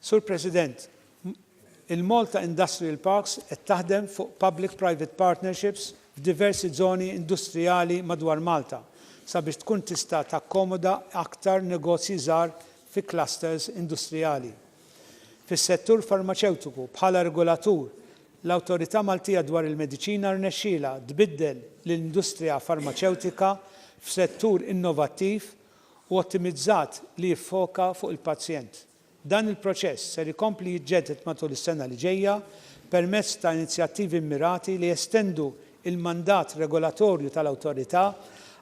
Sur President, il-Malta Industrial Parks qed taħdem fuq public-private partnerships f'diversi żoni industrijali madwar Malta sabiex tkun tista' takkomoda aktar negozji żgħar fi clusters industrijali. Fis-settur farmaċewtiku, bħala regolatur, L-Awtorità Maltija dwar il-Mediċina rnexxielha tbiddel lill-industrija farmaċewtika f'settur innovattiv u ottimizzat li jiffoka fuq il-pazjent. Dan il-proċess ser ikompli jiġġedded matul is-sena li ġejja permezz ta' inizjattivi mmirati li jestendu l-mandat regolatorju tal-Awtorità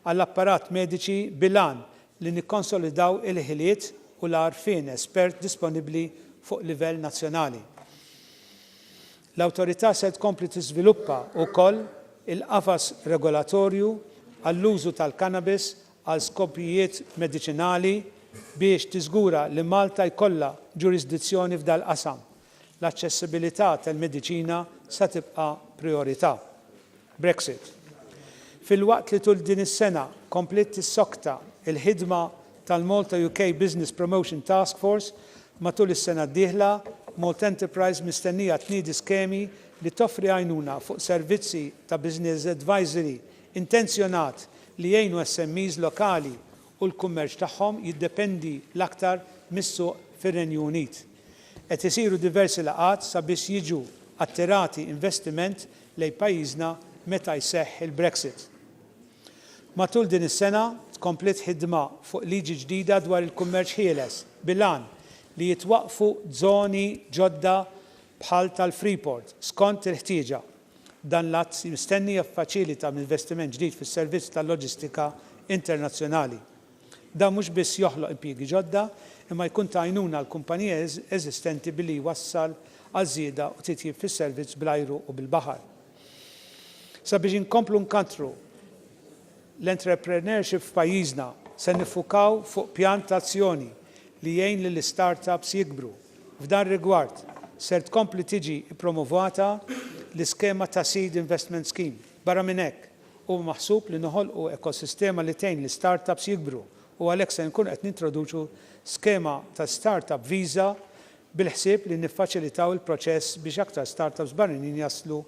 għall-apparat mediċi bil-għan li nikkonsolidaw il-ħiliet u l-għarfien espert disponibbli fuq livell nazzjonali. L-Awtorità se tkompli tiżviluppa wkoll il-qafas regolatorju għall-użu tal-cannabis għal skopijiet mediċinali biex tiżgura li Malta jkollha ġurisdizzjoni f'dal-qasam. L-aċċessibilità tal-mediċina se tibqa' prijorità. Brexit. Filwaqt li tul din is-sena kompliet tissokta l-ħidma tal-Malta-UK Business Promotion Task Force, matul is-sena d-dieħla, Malta Enterprise mistennija tniedi skemi li toffri għajnuna fuq servizzi ta' business advisory intenzjonat li jgħinu SMEs lokali u l-kummerċ tagħhom jiddependi l-aktar mis-suq fir-Renju Unit. Qed isiru diversi laqgħat sabiex jiġu attirati investiment lejn pajjiżna meta jseħħ il-Brexit. Matul din is-sena tkompliet ħidma fuq liġi ġdida dwar il-kummerċ ħieles bil-għan li jitwaqqfu żoni ġodda bħal tal-Freeport skont il-ħtieġa. Dan l-att mistenni jiffaċilita investiment ġdid fis-servizz tal-loġistika internazzjonali. Dan mhux biss joħloq impjiegi ġodda, imma jkun ta' għajnuna għall-kumpaniji eżistenti billi jwassal għal żieda u titjib fis-servizz bl-ajru u bil-baħar. Sabiex inkomplu nkantru l-entrepreneurship f'pajjiżna, se niffukaw fuq pjan ta' azzjoni li jgħin lill-istartups jikbru. F'dan rigward, ser tkompli tiġi ppromovata l-iskema ta' Seed Investment Scheme. Barra minn hekk, Huwa maħsub li noħolqu ekosistema li tgħin l-istartups jikbru u għalhekk se nkunu qed nintroduċu skema ta' startup visa bil-ħsieb li niffaċilitaw il-proċess biex aktar startups barranin jaslu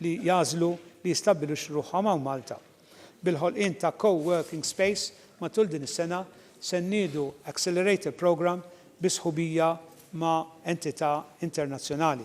li jagħżlu li jistabbiluxxu ruħhom hawn Malta. Bil-ħolqien ta' co-working space matul din is-sena se nniedu accelerator programme bi sħubija ma' entità internazzjonali.